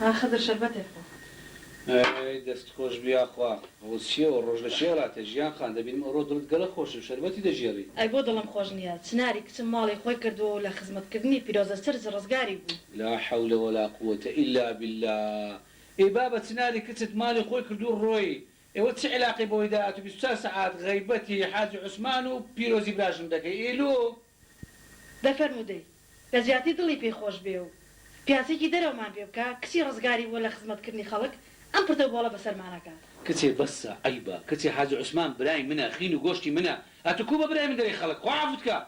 ئا خدر شەربەتێک خۆ. ئەی دەست خۆش بی یاخوا. ئەوە چیە ئەوە ڕۆژ لە کێ ڕاتە ژیان خان دەبینم ئەوڕۆ دڵت گەلە خۆشە و شەربەتی دەگێڕی. ئەی بۆ دڵم خۆش نیە چناری کچم ماڵی خۆی کردووە و لە خزمەت کردنی پیرۆزە سرج ڕزگاری بوو. لا حول ولا قووەتە الا باللە ئێ بابە چناری کچت ماڵی خۆی کردوو ڕۆی ئێوە چ علاقەی بەوەی داهاتوو بیست و چوار سەعات غەیبەتی حاجی عوسمان و پیرۆزی براژن دەکەی ئیلوو. دە فەرموو دەی لە جیاتی دڵی پێی خۆش بێ و پیاسێکی دەرەومان پێ بکا کچی ڕزگاری بووە لە خزمەت کردنی خەڵک ئەم پرتە و بۆڵە بەسەرمان ئەکات. کچێ بەسە عەیبە کچێ حاجی عوسمان برای منە خین و گۆشتی منە ئەتو کو بە برای من دەرێی خەڵک خوا عەفوت کا.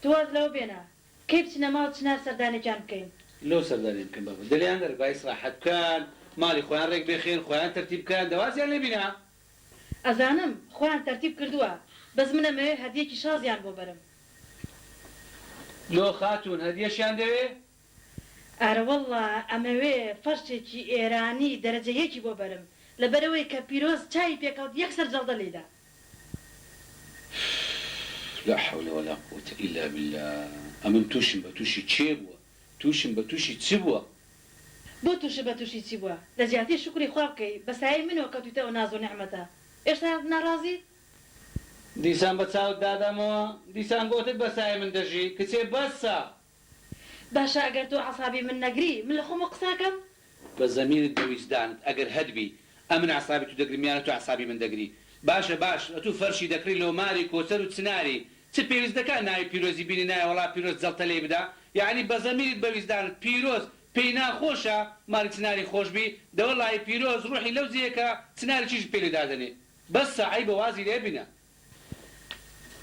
تۆ واز لەوە بێنە کەی بچنە ماڵ چنار سەردانێکیان بکەین. لۆ سەردانیان بکەین بابە دلیان نەربا ئیسراحەت بکەن ماڵی خۆیان رێک بێخێن خۆیان تەرتیب بکەن دەوازیان لێ بینا ئەزانم خۆیان تەرتیب کردووە بەس من ئەمەوێ هەدیەکی شازیان بۆ بەرم. لۆ خاتوون هەدیەشیان دەوێ؟ ئارەوەڵڵا ئەمەوێ فەرشێکی ئێرانی دەرەجە یەکی بۆ بەرم لەبەرئەوەی کە پیرۆز چاوی پێکەوت یەکسەر جەڵدە لێیدا. لا حول ولا قووەتە الا باللە ئەمن توشم بە توشی کێ بووە توشم بە توشی چ بوە؟ بۆ توشت بە توشی چی بوە؟ لەجیاتی شوکری خوا بکەی بە سایەی منەوە کەوتویتە ئەو ناز و نیعمەتە ئێشتا ناڕازیت؟ دیسان بە چاوت دادەمەوە دیسان گۆتت بە سایەی من دەژی کچێ بەسە. باشە ئەگەر تۆ عەسابی من نەگری من لە خۆمەوە قساکەم؟ بە زەمینت بە ویجدانت ئەگەر هەتبی ئەمن عەسابی تو دەگرم یانە تو عەسابی من دەگری باشە باش ئەتو فەرشی دەکڕی لۆ ماری کۆچەر و چناری چ پێویست دەکا ناوی پیرۆزی بینی نایە وەڵا پیرۆز جەڵتە لێی بدا یەعنی بە زەمینت بە ویجدانت پیرۆز پێی ناخۆشە ماری چناری خۆش بی دەوە ڵای پیرۆز ڕوحی لەو جێیە کە چناری چیژت پێ لێ دادەنێ بەسە عەیبە وازی لێ بنە.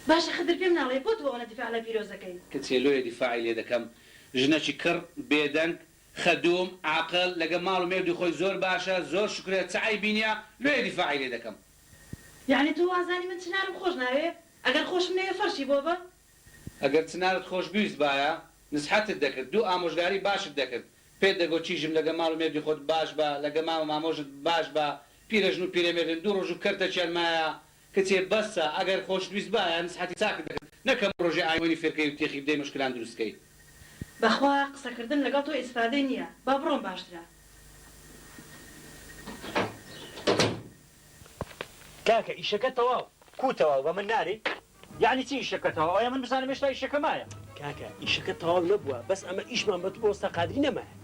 باشە خدر پێم ناڵێی بۆ تۆ ئەونە دیفاع لە پیرۆز دەکەی. کچێ لۆیە دیفاعی لێ دەکەم ژنەکی کڕ بێدەنگ خدووم، عاقڵ، لەگە ماڵ و مێردی خۆی زۆر باشە، زۆر شوکرە، چ عەیبی نیە، لۆیە دیفاعی لێ دەکەم. یەعنی تۆ وازانی من چنارم خۆش ناوێ؟ ئەگەر خۆشم نەوێ فەرشی بۆ بە؟ ئەگەر چنارت خۆش بیویستبایە نسحەتت دەکرد، دوو ئامۆژگاری باشت دەکرد، پێت دەگۆت چیژم لەگە ماڵ و مێردی خۆت باش بە، لەگە مام و مامۆشت باش بە، پیرەژن و پیرەمێردن دوو ڕۆژ و کەرتەکیان مایە، کچێ بەسە ئەگەر خۆشویست بایە نسحەتی چاکت دەکرد نەک هەموو رۆژێ ئایوەنی فێرکەی و تێخی بدەی مشکلان دروست کەی. بەخوا قسەکردن لەگەڵ تۆ ئیسفادەی نیە با بڕۆم باشترە. کاکە ئیشەکە تەواو. کوو تەواو بە من ناری؟ یەعنی چی ئیشەکە تەواو ئەوە من بزانم هێشتا ئیشەکە مایە. کاکە ئیشەکە تەواو نەبووە بەس ئەمە ئیشمان بە تو بە وەستا قادری نەمایە.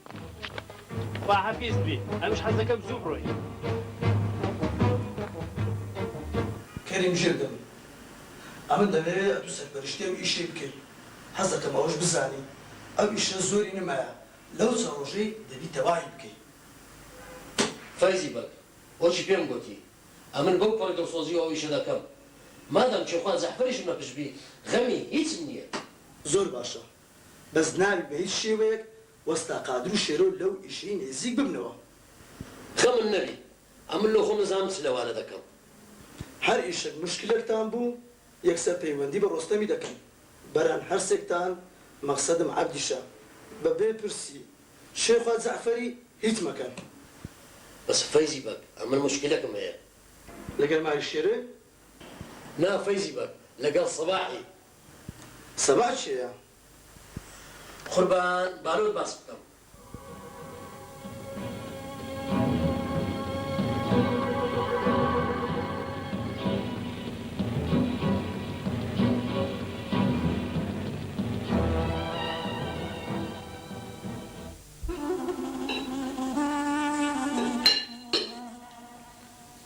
خواحەفیز بی ئەمش حەزەکەم زوو بڕۆی. کەریم ژیر دەم ئەمن دەمەوێ ئەتو سەرپەرشتی ئەو ئیشەی بکەی حەزەکەم ئەوەش بزانی ئەو ئیشە زۆری نمایە لەو چە ڕۆژەی دەبی تەواهی بکەی. فەیزی بەگ وەکی پێم گۆتی ئەمن بەو پەڕە دڵسۆزیەوە ئەو ئیشە دەکەم مادام کێخوا جەحفەریشم لە پشت بی غەمی هیچم نیە. زۆر باشە بەس ناوی بە هیچ شێوەیەک وەستا قادر و شێرۆ لەو ئیشەی نێزیک ببنەوە. خەمت نەبی ئەمن لۆ خۆم نەزانم چ لەوانە دەکەم. هەر ئیشەک موشکیلەکتان بوو یەکسەر پەیوەندی بە ڕۆستەمی دەکەن بەران هەرسێکتان مەقسەدم عەبدیشە بە بێ پرسی شێخوا جەعفەری هیچ مەکەن. بەس فەیزی بەگ ئەمن موشکیلەکم هەیە. لەگەر ماری شێرێ نا فەیزی بەگ لەگەڵ سەباحی. سەباح کێیە؟ قوربان بارۆت باس بکەم.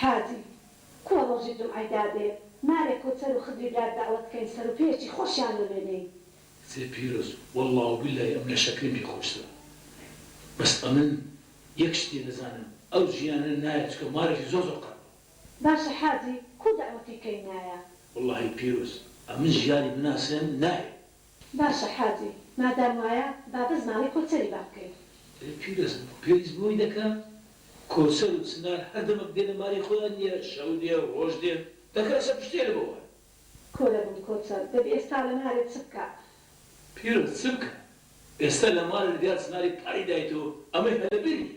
هادی. کوا ڕۆژی جومعەی دادێ مارێ کۆچەر و خدری برات دەعوەت کەین سەرو پێیەکی خۆشیان لۆ لێنێین. کچێ پیرۆز وەڵا و بیلای ئەم لەشە کرم پێ خۆشترە بەس ئەمن یەک شتێ نەزانم ئەو ژیانە نایە چکە مارێکی زۆر زۆر قەرەبە. باشە حاجی کو دەعوەتی کەی نایە. وەڵاهی پیرۆز ئەمن ژیانی بناسێم نایە. باشە حاجی مادام وایە با بەس ماڵی کۆچەری با بکەین. دەی پیرۆزم بۆ پێویست بۆی دەکەم؟ کۆچەر و چنار هەر دەمەک دێنە ماڵی خۆیان نیە شەو دێ ڕۆژ دێن دەکە ئەسە پشتێنە بۆ وان. کۆرە بم کۆچەر دەبی ئێستا لە مارێ چ بکا؟ پیرۆز چ بکا ئێستا لە مارێ دیا چناری پاری دایتەوە ئەمەی هەر لە بیر نیە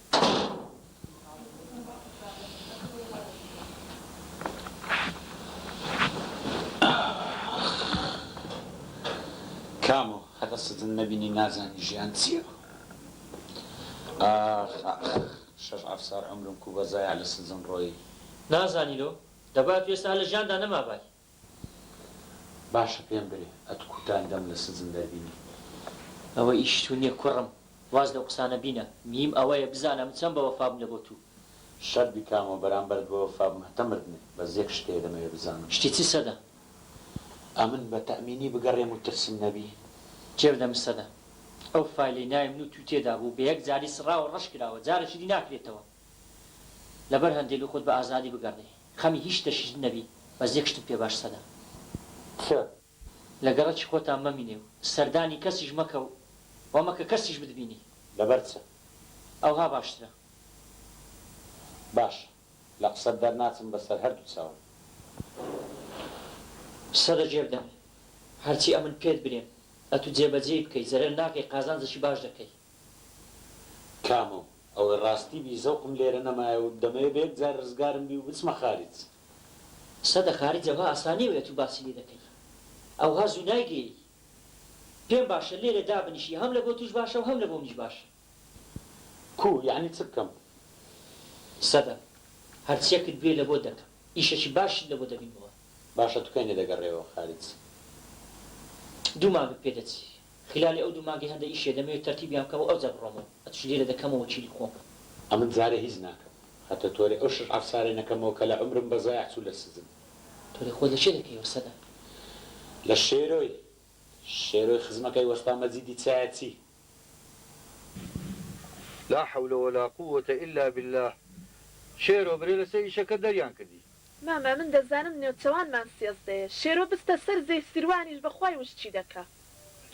کامۆ هەتا سەجن نەبینی نازانی ژیان چیە ئاخ ئاخ شەش ئەفسار عەمرم کوو بە زایع لە سەجن ڕۆیی. نازانی لۆ دەبات وێستا هەر لە ژیاندا نەمابای. باشە پێم برێ ئەت کوتان دەم لە سجن دەربینی. ئەوە ئیشی تو نیە کوڕم واز لەو قسانە بینە میم ئەوەیە بزانە من چەن بە وەفابم لە بۆ تو. شەت بیکامەوە بەرامبەرت بە وەفابم هەتە مردنێ بەس یەک شت هەیە دەمەوێ بزانم. شتی چ سەدە. ئەمن بە تەئمینی بگەڕێم و ترسم نەبی؟ جێ بدە من سەدە. ئەو فایلەی ناوی من و توی تێدا بوو بە یەک جاری سڕاوە ڕەش کراوە جارەکی دی ناکرێتەوە لەبەر هەندێ لو خۆت بە ئازادی بگەڕێی. خەمی هیچ شتەکیشت نەبی بەس یەک شتم پێ باش سەدە تفۆ لە گەڕەکی خۆتان مەمینێ و سەردانی کەسیش مەکە و وا مەکە کەسیش بتبینی. لەبەر چ ئەوها باشترە؟ باشە لە قسەت دەرناچم بەسەر هەردوو چاوم. سەدە جێ بدەمێ هەرچی ئەمن پێت برێم ئەتو جێ بەجێی بکەی زەرەر ناکەی قازانجەکی باش دەکەی. کامۆ، ئەوە ڕاستی بی زەوقم لێرە نەمایە و دەمەوێ بە یەک جار ڕزگارم بی و بچمە خارج. سەدە خارج ئەوها ئاسان نیە وەیە تو باسی لێ دەکەی ئەوها زو نایگەیەی پێم باشە لێرە دابنیشی هەم لە بۆ توش باشە و هەم لە بۆ منیش باشە. کو، یەعنی چ بکەم؟ سەدە، هەرچیەکت بوێ لە بۆت دەکەم ئیشەکی باشیشت لە بۆ دەبینمەوە. باشە تو کەی نەدەگەڕێیەوە خارج؟ دو مانگم پێ دەچی خیلالی ئەو دوو مانگەی هەندە ئیشیە دەمەوێ تەرتیبیان بکەمەوە ئەوجا بڕۆمەوە ئەتوش لێرە دەکەمە وەکیلی خۆم. ئەمن جارێ هیچ ناکەم هەتە تۆرێ ئەو شەش عەفسارەی نەکەمەوە کە لە عومرم بە زایەع چوو لە سجن. تۆرێ خۆت لە چێ دەکەیەوە سەدە؟ لە شێرۆی شێرۆی خزمەکەی وەستا مەجیدی چایە چی؟ لا حول ولا قووەتە الا باللە شێرۆ برێ لەسەر ئیشەکەت دەریان کردی؟ مامە من دەزانم نێوچەوانمان سێزدەیە شێرۆ بستە سەر زێی سیروانیش بەخوای وشکی دەکا.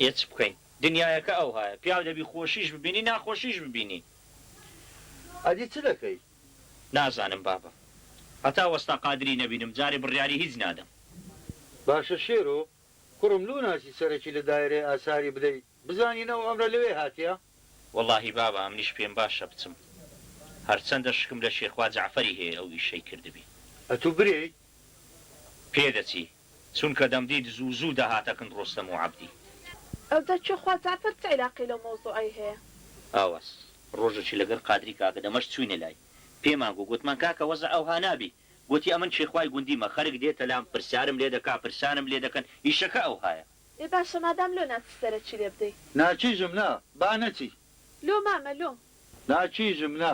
ئێ چ بکەین دنیایەکە ئەوهایە پیاو دەبی خۆشیش ببینی ناخۆشیش ببینی. ئەدی چ دەکەی؟ نازانم بابە هەتا وەستا قادری نەبینم جارێ بڕیاری هیچ نادەم. باشە شێرۆ کوڕم لۆ ناچی سەرەکی لە دایرەی ئاساری بدەی بزانین ئەو ئەمرە لەوێ هاتیە. وەڵاهی بابە ئەمنیش پێم باشە بچم هەرچەندە شکم لە شێخوا جەعفەری هەیە ئەو ئیشەی کردبی. ئەتوو برێی؟ پێدەچی چونکە دەمدیت زوو زوو دەهاتە کن ڕۆستەم و عەبدی. ئەوجا چۆ خوا جەعفەر چ عیلاقەی لەو مەوزوعەی هەیە؟ ئاوەس ڕۆژەکی لەگەل قادری کاکە دەمەش چوینە لای پێمان گو گوتمان کاکە وەزع ئەوها نابی گوتی ئەمن کێخوای گوندیمە خەرک دێتە لام پرسیارم لێدەکا پرسانم لێدەکەن ئیشەکە ئەوهایە. ئێ باشە مادام لۆ ناچی سەرە چی لێ بدەی. ناکیژم نا با نەچی. لۆ مامە لۆ. ناکیژم نا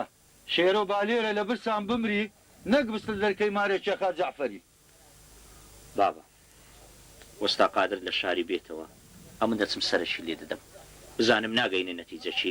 شێرۆ با لێرە لە برسان بمری نەک بستت لەرکەی مارێ کێخا جەعفەری. بابە وەستا قادر لە شاری بێتەوە ئەمن دەچم سەرە چی لێ دەدەم بزانم ناگەینە نەتیجە چی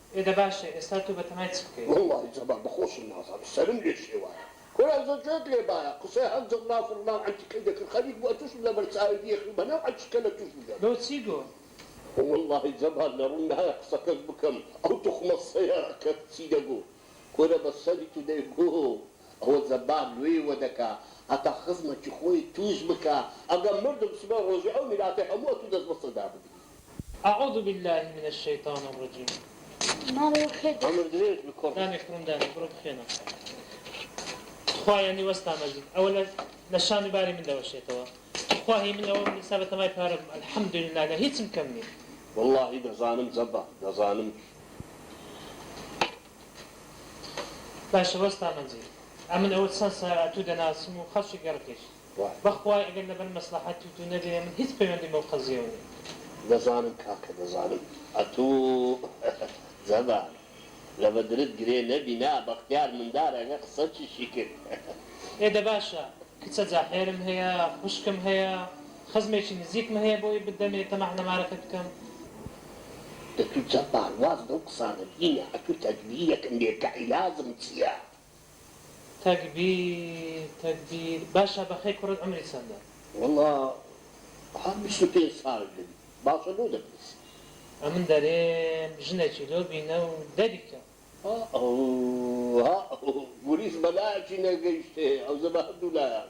ئێ دە باشە ئێستا تو بەتەمای چ بکەی. وەڵا ی زەبا بە خۆشم نازانم سەرم لێ شێوایە کورە زۆ جوێت لێ بایە قسەی هەر جڕناو فڕناو عەنتیکەی دەکرد خەریک بوو ئەتوشم لە بەرچاوی بیەخنم هەنێ و عەنتیکە لە توش بگەم. بۆ چی گو. وەڵا ی زەبا لە ڕوم نایە قسەکەش بکەم ئەو توخمە سەیاقەت چی دەگوت کورە بە سەری تو دەی گو ئەوە زەبا لۆیێ وە دەکا هەتا خزمە کی خۆی توش بکا ئەگە مردم سبەی ڕۆژی ئەو میراتەی هەموو ئەتو دەست بەسەر دا بگری. اعوذ باللە من الشیطان الرجیم عەمر درێژ بی کوڕ. دامێ کوڕم دامێ بڕۆ بخوێنە تخوا یانی وەستا مەجید ئەوە لە لە شان و باری من دەوەشێتەوە تخوا هی من ئەوەم ئیستا بە تەمای پارە بم الحمدللە لە هیچم کەم نیم. وەڵاهی دەزانم زەبە دەزانم. باشە وەستا مەجید ئەمن ئەوە چەن سا ئەتوو دەناسم و خەڵکی گەڕکێش. وایە. بەخوای ئەگەر لەبەر مەسڵەحەت توتو نەبێ من هیچ پەیوەندیم بەو قەزیەوە نیە. دەزانم کاکە دەزانم ئەتوو جەبار لە بەدرت گرێ نەبی نا بەختیار مندار ئەگە قسە چشی کرد. ئێ دە باشە کچە جاحێرم هەیە خوشکم هەیە خزمێکی نزیکم هەیە بۆی بدەمێ تەماح لە مارەکەت بکەم. ئەتوو جەبار واز لەو قسانە بهینە ئەتوو تەدبیرێکم بێ کە عیلاجم چیە. تەکبیر تەکبیر باشە بەخێ کوڕت عەمری چەندە؟ وەڵا هەر بیست و پێنج ساڵ بم باشە بۆ دەپرسی. ئەمن دەرێم ژنەکی لۆ بینە و دەری کە. ها ئەوو ها ئەوو گوریس بەلایەکی نەگەیشتێ ئەوزە بە هەردوو لایان.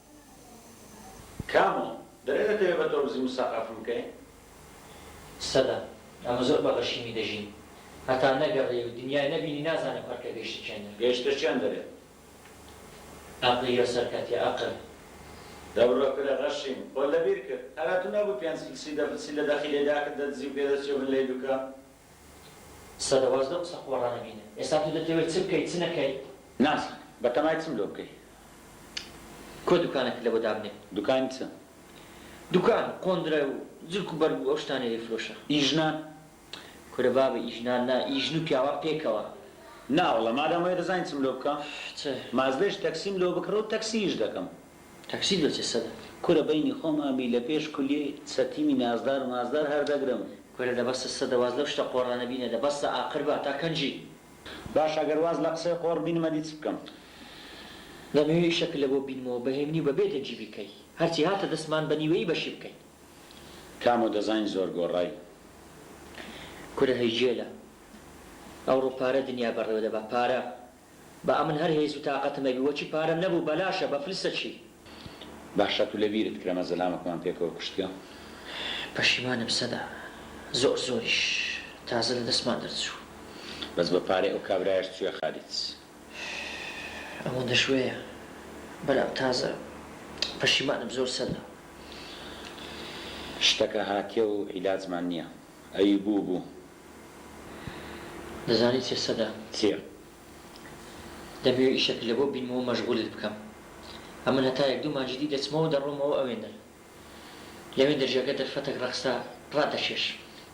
کامۆ، دەرێ دەتەوێ بە تۆرگزی موساقەفم بکەی؟ سەدە، ئێمە زۆر بە غەشیمی دەژین. هەتا نەگەڕێی و دنیای نەبینی نازانی قەرکە گەیشتە کێن دەرێ. گەیشتە کێن دەرێ. ئەقڵی یە سەرکەتیە ئەقل. دەبڕە کورە غەشیم، خۆت لەبیر کرد. هەر ئەتوو نەبووی پێنج فلسی دە فلسی لە دەخیلەی داکت دەدزی و پێدەچووبن لەی دوکە. سەدەواز لەو قسە قۆڕە نەبینن ئێستا تۆ دەتەوێ چ بکەی چ نەکەی؟ ناس، بەتەمای چم لۆ بکەی؟ کۆ دوکانەکت لەوە دابنێ؟ دوکانی چ؟ دوکان و قۆندرە و جلک و بەرگ و ئەو شتانەی ئەیفرۆشە. ئی ژنان؟ کورە بابە ئی ژنان نا ئی ژن و پیاوان پێکەوە. ناوەڵڵا مادام وەیە دەزانی چم لۆ بکە؟ چ؟ ماس بێژ تەکسیم لۆ بکڕە و تەکسییش دەکەم. تەکسی دەچێ سەدە. کورە بەینی خۆم ئەم بی لە پێش کولیەی سەتیمی نازدار مازدار هەر دەگرم. کورە دە بەسە سەدە واز لەو شتە قۆڕانە بینە دە بەسە ئاقر بە تا کەنجی. باشە گەر واز لە قسەی قۆڕ بینم ئەدی چ بکەم. دەمەوێ شەکر لەبۆ بینمەوە بە هێمنی و بە بێ دەنگی بیکەی هەرچی هاتە دەستمان بە نیوەیی بەشی بکەین. کامۆ دەزاین زۆر گۆڕای. کورە هەی گێلە ئەوڕۆ پارە دنیا بەڕێوە دەبا پارە. با ئەمن هەر هێز و تاقەتم ئەبی وەچی پارەم نەبوو بەلاشە بە فلسە چی. باشە تو لەبیرت کرمە زەلامەکمان پێکەوە کوشتگە. پەشیمانم سەدا زۆر زۆریش تازە لە دەستمان دەرچوو. بەس بە پارەی ئەو کابرایەش چویە خالیت. ئەوەندە شوێیە برام تازە پەشیمانم زۆر سەدا. شتەکە هاتیە و عیلاجمان نیە. ئەی بوو بوو. دەزانی چیە سەدام؟ چیە؟ دەمەوێ ئیشەک لەبۆ بینمەوە مەشغولت بکەم. ئەمن هەتا یەک دوو مانگی دی دەچمەوە دەڕۆمەوە ئەوێندەر. لەوێندەر ژەکە دەرفەتەک ڕەخسا ڕادەکێش.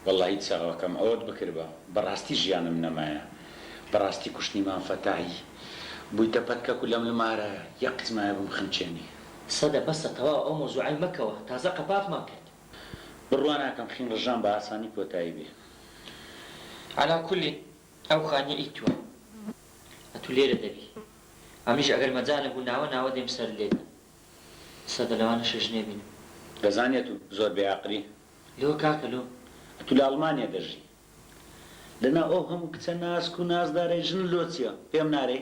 وەڵاهی چاوەکەم ئەوەت بکردبا بەڕاستی ژیانم نەمایە بەڕاستی کوشتنی مام فەتاحی بویتە پەتکەک و لەم لمارە یە قچمایە بمخنکێنی. سەدە بەسە تەواو ئەو مەوزوعەی مەکەوە تازە قەپاغمان کرد. بڕوا ناکەم خین ڕژان بە ئاسانی کۆتایی بێ. عەلا کولین ئەو خانیە ئی توە ئەتو لێرە دەبی ئەمنیش ئەگەر مەجالم بوو ناوە ناوە دێم سەرت لێ دەم ئیسە دە لەوانە شەژنێ بینم. دەزانی ئەتو زۆر بێ ئەقلی. لۆ کاکە لۆ؟ ئەتو لە ئەڵمانیە دەژی لە ناو ئەو هەموو کچە ناسک و نازدارەی ژن لۆ چیە پێم نارێی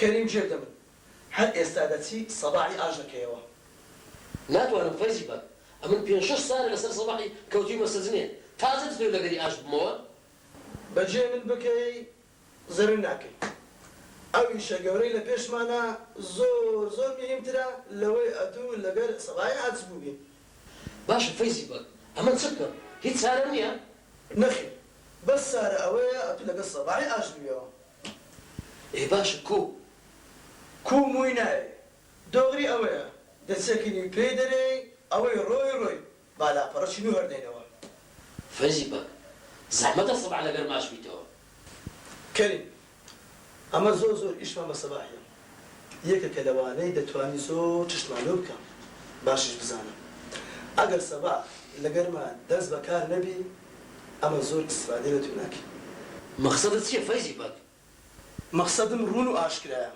کەریم جێ دەبن هەر ئێستا دەچی سەباحی ئاش دەکەیەوە. ناتوانم فەیزی بە ئەمن پێنج شەش سالە لەسەر سەباحی کەوتویمە سەجنێ تازە دتەوێ لەگەری ئاش ببمەوە. بەجێ من بکەی زەرر ناکەی ئەو ئیشە گەورەی لە پێشمانە زۆر زۆر مهیم ترە لەوەی ئەتو لەگەر سەباحی ئاچ بوبین. باشە فەیزی بە ئەمن چ بکەم هیچ چارەم نیە؟ نەخیر بەس چارە ئەوەیە ئەتو لەگەر سەباحی ئاش بویەوە. ئێ باشە کوو کوو مووی ناوێ دۆغری ئەوەیە دەچەکنی و پێی دەرێی ئەوەی ڕۆی ڕۆی با لاپەڕە چین و هەردەینەوە. فەیزی بەگ زەحمەتە سەباح لەگەر ماچ بیتەوە. کەریم ئەمە زۆر زۆر ئیشمان بە سەباح یە. یەکێکە لەوانەی دەتوانی زۆر چشتمان لۆ بکا باشیش بزانە ئەگەر سەبا لەگەرما دەست بەکار نەبی ئەمە زۆر ئیستفادەی لەتۆ ناکەی. مەخسەدت چیە فەیزی بەگ؟ مەخسەدم روون و ئاشکرایە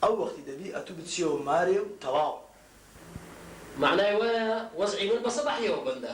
ئەو وەختی دەبی ئەتو بچیەوە مارێ و تەواو. مەعنای وایە وەزعی من بە سەباحیەوە بەندە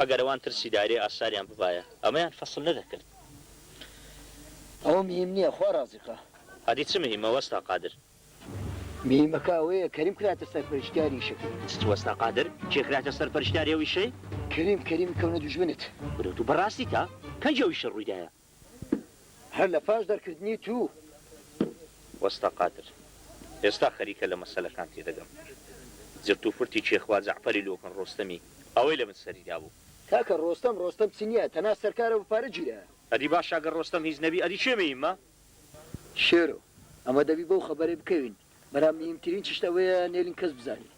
ئەگەر ئەوان ترسی دایرەی ئاساریان ببایە ئەمەیان فەسل نەدەکرد. ئەوە مهیم نیە خوا ڕازیقە. ئەدی چ مهیمە وەستا قادر. مهیمەکە ئەوەیە کەریم کراتە سەرپەرشتیاری ئیشەکەی. چ وەستا قادر؟ کێ کراتە سەرپەرشتیاری ئەو ئیشەی؟ کەریم کەریم کەونە دوژمنت. برۆ تو بەڕاستی تا پەنج ئەو ئیشە ڕویدایە. هەر لە پاش دەرکردنی توو. وەستا قادر ئێستا خەریکە لە مەسەلەکان تێدەگەم زرت و فرتی چیە خوا جەعفەری لۆ کن ڕۆستەمی ئەوەی لە من سەری دابوو. کاکە ڕۆستەم ڕۆستەم چ نیە تەنها سەرکارە و پارە گیرە. ئەدی باشە گەر ڕۆستەم هیچ نەبی ئەدی کێ مەیمە؟ شێرۆ ئەمە دەبی بەو خەبەرەی بکەوین برام میم ترین چشت ئەوەیە نێلین کەس بزانی.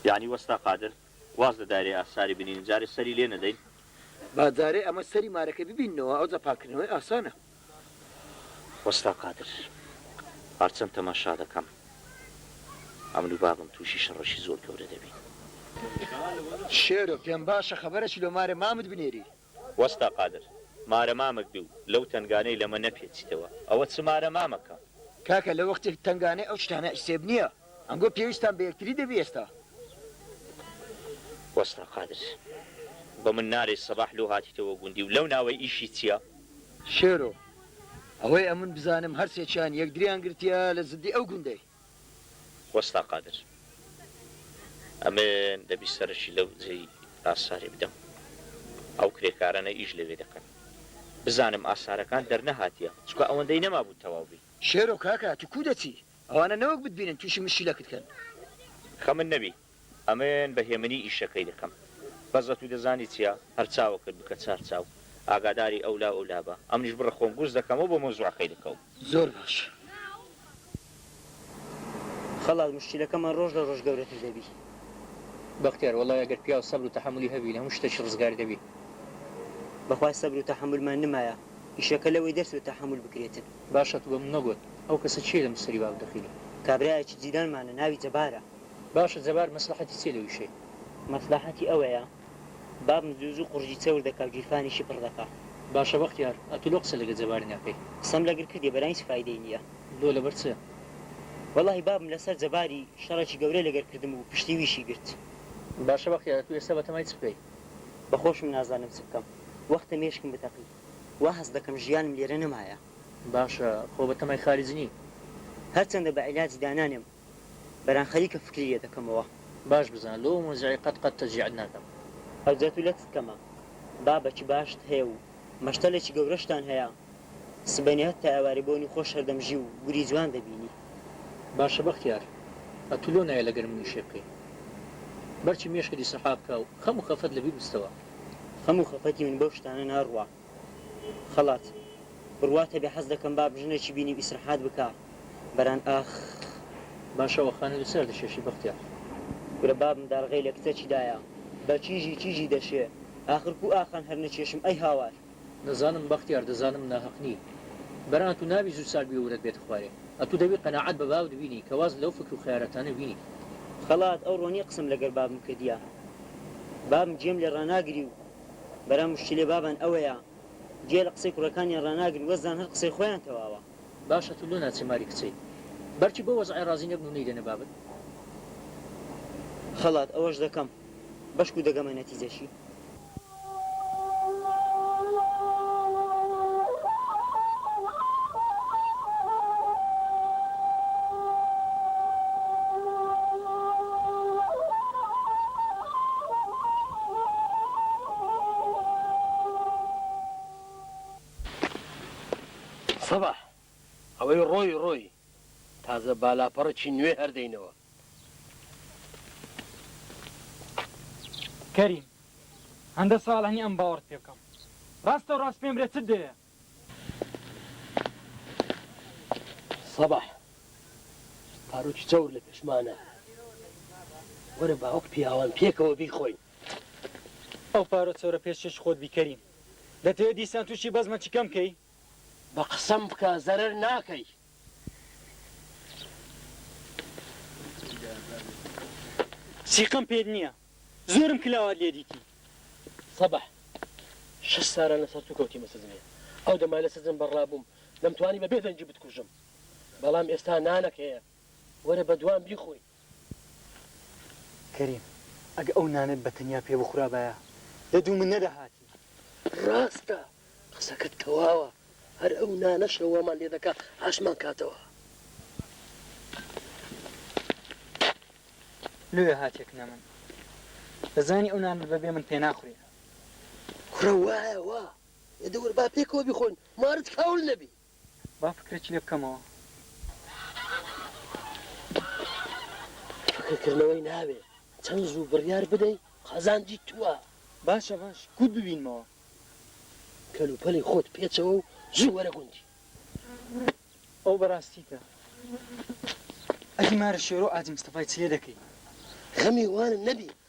یەعنی وەستا قادر واز لە دایرەی ئاساری بنینن جارێ سەری لێ نەدەین؟ با جارێ ئەمە سەری مارەکە ببیننەوە ئەوجا پاککردنەوەی ئاسانە. وەستا قادر هەرچەند تەماشا دەکەم ئەمن و بابم توشی شەڕەشی زۆر گەورە دەبین. شێرۆ پێمباشە خەبەرەکی لۆ مارێ مامت بنێری. وەستا قادر، مارە مامک دوو، لەو تەنگانەی لەمە نەپێچیتەوە، ئەوە چ مارە مامکە؟ کاکە لە وەختێک تەنگانەی ئەو شتانە حیسێب نییە، ئەنگۆ پێویستتان بە یەکتری دەبی ئێستا. وەستا قادر، بە من نالێی سەباح لۆ هاتیتەوە گوندی و لەو ناوەی ئیشی چییە؟ شێرۆ، ئەوەی ئەمن بزانم هەر سێکیان یەکدریان گرتیە لە زدی ئەو گوندەی. وەستا قادر ئەمن دەبی سەرەکی لەو جێی ئاساری بدەم ئەو کرێکارەنە ئیش لەوێ دەکەن بزانم ئاسارەکان دەرنەهاتیە چکە ئەوەندەی نەمابوو تەواو بی. شێرۆ کاکە تو کو دەچی ئەوانە نەوەک بتبینن توشی مشکیلەکت کەن. خەمت نەبی ئەمن بە هێمنی ئیشەکەی دەکەم. بەس ئەتوو دەزانی چیە؟ هەر چاوەکەت بکە چار چاو. ئاگاداری ئەو لا و ئەو لا بە. ئەمنیش بڕە خۆم گووز دەکەم و بۆ مەوزوعەکەی دەکەوم. زۆر باش. خەڵات موشکیلەکەمان ڕۆژ لە ڕۆژ گەورەتر دەبی. بەختیار، وەڵای ئەگەر پیاو سەبر و تەحەمولی هەبی لە هەموو شتەکی ڕزگار دەبی. بەخوای سەبر و تەحەمولمان نمایە. ئیشەکە لەوەی دەرچووە تەحەمول بکرێتن. باشە تو بە من نەگۆت ئەو کەسە کێیە لە مستەری باب دەخیلی. کابرایەکی جیلانمانە ناوی جەبارە. باشە جەبار مەسلەحەتی چیە لە وشەی. مەسلەحەتی ئەوەیە بابم زوو زوو قوڕگی چەور دەکا و گیرفانیشی پڕ دەکا. باشە بەختیار ئەتوو لۆ قسە لەگەر جەبار ناکەی. قسەم لەگر کردیە بەرام هیچ فایدەی نیە. لۆ لەبەر چ؟ وەڵاهی بابم لەسەر جەباری شەڕێکی گەورەی لەگەر کردم و پشتی ویشی گرت. باشە بەختیار ئەتوو ئێستا بەتەمای چ بکەی؟ بەخۆشم نازانم چ بکەم وەختە مێشکم بتەقی وا هەست دەکەم ژیانم لێرە نەمایە. باشە خۆ بەتەمای خارج نی؟ هەرچەندە بە عیلاجی دانانێم بەران خەریکە فکری لێ دەکەمەوە. باش بزانە لۆ موزعی قەت قەت تەجیعت ناکەم. هەر جا تو لەتت کەمە بابە چ باشت هەیە و مەشتەلێکی گەورەشتان هەیە سبەینێهت تا ئێوارێ بۆنی خۆش هەردەم ژی و گوری جوان دەبینی. باشە بەختیار ئەتو لۆ نایە لەگەر منی شەی بکەی بەرچی مێشکت ئیسرحا بکا و خەم و خەفەت لەبیر بستەوە. خەم و خەفەتی من بەو شتانە ناڕوا. خەڵات بڕوات هەبێ حەز دەکەم باب ژنێکی بینی و ئیسرحات بکا بەران ئاخ. باشە ئەوە خانە لەچی ئەردەشێشی بەختیار. کورە بابم دارغەی لە کتەکی دایە بە کیژی کیژی دەشێ ئاخر کو ئاخان هەر نەکێشم ئەی هاوار. دەزانم بەختیار دەزانم ناهەق نی بەران ئەتوو نابی زوو ساک بی و ورەت بێتە خوارێ ئەتوو دەبی قەناعەت بە باوت بینی کە واز لەو فکر و خەیارەتانە بینی. خەڵات ئەوڕۆ نیە قسەم لەگەر بابم کردیە بابم گێم لێ ڕاناگری و برا موشکیلەی بابان ئەوەیە گوێ لە قسەی کوڕەکانیان ڕاناگرن وەزدان هەر قسەی خۆیان تەواوە. باشە تو لۆ ناچی ماری کچەی بەرکی بۆ وەزعی ڕازی نەبن و نەیدەنە بابت خەڵات ئەوەش دەکەم بەشکو دەگەمە نەتیجەشی. سەباح، ئەوەی ڕۆی ڕۆی، تازە بالاپەڕێکی نوێ هەر دەینەوە. کەریم، هەندە ساڵە نی ئەم باوەڕت پێ بکەم. ڕاستەو ڕاست پێم برێ چت دەوێ؟ سەباح پاروکی چەور لە پێشمانە وەرە با وەک پیاوان پێکەوە بیخۆین. ئەو پارۆ چەورە پێش چێشی خۆت بی کەریم دەتەوێ دیسان توشی بەزمە چی کەم کەی. بە قسەم بکە زەرەر ناکەی. سیقەم پێت نییە. زۆرم کلاوات لێ دیتی. سەباح شەش ساران لە سەرتو کەوتی مە سزنێ ئەو دەما لە سزن بە رابووم دەم توانی بە بێ دەنگی بتکوژم بەڵام ئێستا نانەک هەیە وەرە بە دوام بیخۆی. کەریم ئەگە ئەو نانەت بە تەنیا پێ بخورابایە لە دوو من نەدەهاتی. راستە قسەکەت تەواوە هەر ئەو نانەشە وامان لێ دەکا ئاشمان کاتەوە. لۆیە هاتیە کنە من دەزانی ئەو نانەت بەبێ من پێ ناخورێ. کوڕە وایە وا ئێدە وەر با پێکەوە بیخۆین مارت کاول نەبی. با فکرێکی لێ بکەمەوە. فکرکردنەوەی ناوێ، چەند زوو بڕیار بدەی قازانجی تووە. باشە باش کووت ببینمەوە. کەلوپەلی خۆت پێچەوە و زوو وەرە گوندی. ئەو بەراستیتە. ئەدی مارە شێرۆ ئاجی مستەفای چ لێ دەکەی؟ غەمی وانم نەبی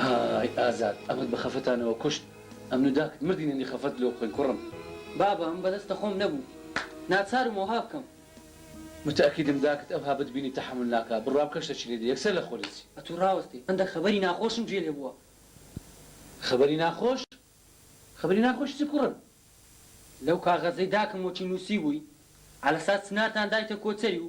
ئای ئازاد ئەمەت بە خەفەتانەوە کوشت ئەمن و داکت مردینە نی خەفەت لۆ بخۆین کوڕم. بابە ئەمن بەدەستە خۆم نەبوو ناچارم وەها بکەم. متەئەکیدم داکت ئەوها بتبینی تەحەمول ناکا بڕوا بکە شتەکی لێ دێ یەکسەر لە خۆ دەچی. ئەتوو ڕاوەستێ هەندەک خەبەری ناخۆشم گوێ لێ بووە. خەبەری ناخۆش؟ خەبەری ناخۆش چی کوڕم؟ لەو کاغەزەی داکم وەکی نووسیبووی عەلەسات چنارتان دایتە کۆچەری و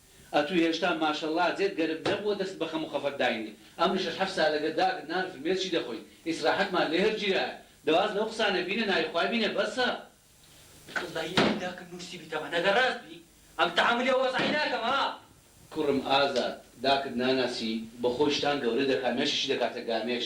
ئەتو هێشتا ماشەڵا جێت گەرم نەبووە دەست بە خەم و خەفەت داینێ ئەمن شەش حەفت سالەگە داگت نان فرمێ چی دەخۆی ئیسراحەتمان لێ هەر گیرایە دە واز لەو قسانە بینە ناوی خوای بینە بەسە. واللە ی ناوی داکم نوسیبیتەوە نەگەر راست بی ئەم تەحەمولی ئەو وەزعەی ناکەم ها. کوڕم ئازاد داکت ناناسی بەخۆی شتان گەورە دەکا مێشیشی دەکاتە گامێش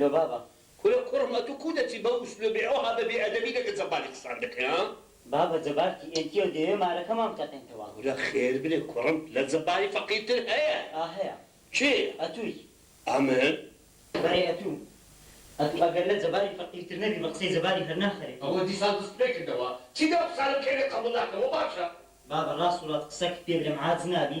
لۆ بابە. کورە قوڕم ئەتو کو دەچی بەو ئسلوبی ئەوها بە بێ ئەدەبی لەگە جەباری قسان دەکەی ها. بابە جەبار کی ئێن تیە و دەیەوێ مارەکەمان بتەقێنتەوە. کورە خێر بێ کوڕم لە جەباری فەقیر تر هەیە. ئا هەیە. کێ؟ ئەتووی. ئا من؟ بەرێ ئەتوو. ئەتوو ئەگەر لە جەباری فەقیر تر نەبی بە قسەی جەباری هەر ناخەرێ. ئەوە دیسان دست پێ کردەوە. چی دە ئەو قسانە بکەی لێت قەبوول ناکەم وە باشە. بابە ڕاست و ڕات قسەکت پێ برێم عاجز نابی؟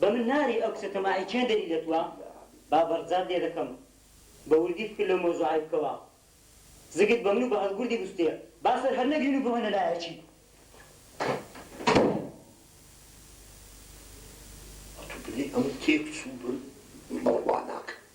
بە من ناری ئەو کچە تەماعی کێن دەری دەتوە با بەڕجات لێ دەکەم بە وردی فکر لەو مەوزوعای بکەوە زگت بە من و بە هەڵگوردی بوستێ با سەر هەر نەگرین و بڕۆینە لایەکی ئەتو بلی ئەم تێک چوو بن بڕوا ناکەم.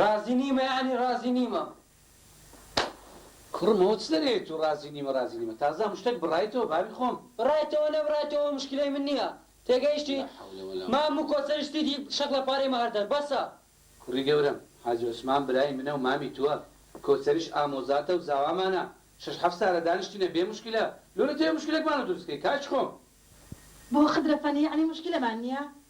ڕازی نیمە یانی ڕازی نیمە. کوڕم ئەوە چ دەرێیە تو ڕازی نیمە ڕازی نیمە تازە هەموو شتەک بڕایتەوە باوی خۆم. بڕایتەوە نەبڕایتەوە موشکیلەی من نیە تێگەیشتی مام موکۆ سەری شتیدی شەق لە پارەی مەهەر دەر بەسە. کوڕی گەورەم حاجی عوسمان برای منە و مامی توە کۆسەریش ئامۆزاتە و زاوامانە شەش حەفت سالە دانیشتینە بێ موشکیلە لۆ لەتەوێ موشکیلەکمانە دروست کەی کاکی خۆم. بۆ خدرە فەنی یانی موشکیلەمان نیە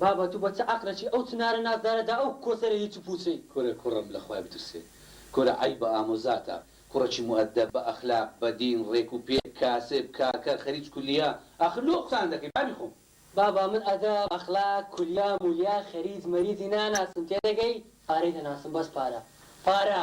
بابە تو بە چ عەقلەکی ئەو چنارە نازدارە دا ئەو کۆسەرە هیچ و پوچەی. کورە کوڕم لە خوای بترسێ کورە عەیبە ئامۆزاتە کوڕەکی موئەدەب بە ئەخلاق بە دین ڕێک و پێک کاسب کاکە خەریج کولیە ئاخر لۆ قسان دەکەی بابی خۆم. بابە من ئەدەب ئەخلاق کولیا مولیا خەریج مەریجی ناناسم تێدەگەی پارەی دەناسم بەس پارە پارە.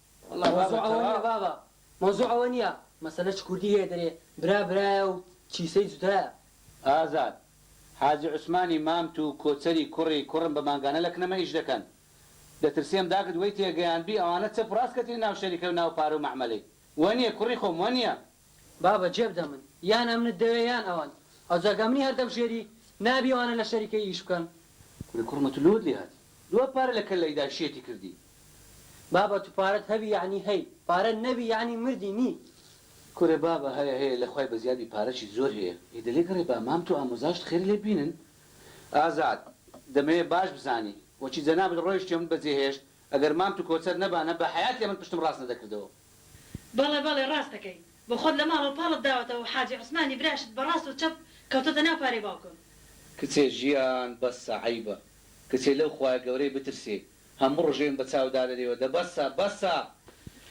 وەڵا بابە تەواو. مەوزوع ئەوە نیە بابە مەوزوع ئەوە نیە. مەسەلە چ کوردی هەیە دەرێ برا برایە و کیسەی جودایە. ئازاد حاجی عوسمانی مام تو کۆچەری کوڕی کوڕم بە مانگانە لە کنەمە ئیش دەکەن دەترسێم داکت وەی تێگەیاندبی ئەوانە چەپ ڕاست کەتنی ناو شەریکەو ناو پارە و مەعمەلەی وەنیە کوڕی خۆم وەنیە. بابە جێبدە من یان ئەمنت دەوێ یان ئەوان ئەوجا کە منی هەر دەبژێری نابی ئەوانە لە شەریکە ئیش بکەن. کورە کوڕمە تو لۆت لێ هاتی دووا پارە لە کەللەیدا شێتی کردی. بابە تو پارەت هەبی یەعنی هەی پارە نەبی یەعنی مردی نی. کورە بابە هەیە هەیە لە خوای بەزیاد بی پارەچی زۆر هەیە. ئێ دەلێ گەڕێ با مام تو ئامۆزاشت خێرە لێ بینن. ئازاد، دەمەوێ باش بزانی وەچی جەنابت ڕۆیشتیەومت بەجێهێشت، ئەگەر مام تو کۆچەر نەبانە بە حەیاتێ من پشتم ڕاست نەدەکردەوە. بەڵێ بەڵێ ڕاست دەکەی بۆ خۆت لە ماڵەوە پاڵت داوەتەوە و حاجی عوسمانی براشت بە ڕاست و چەپ کەوتۆتە ناو پارەی باوکم. کچێ ژیان بەسە عەیبە کچێ لەو خوایە گەورەی بترسێ هەموو ڕژێم بە چاو دادەرێوە دە بەسە بەسە.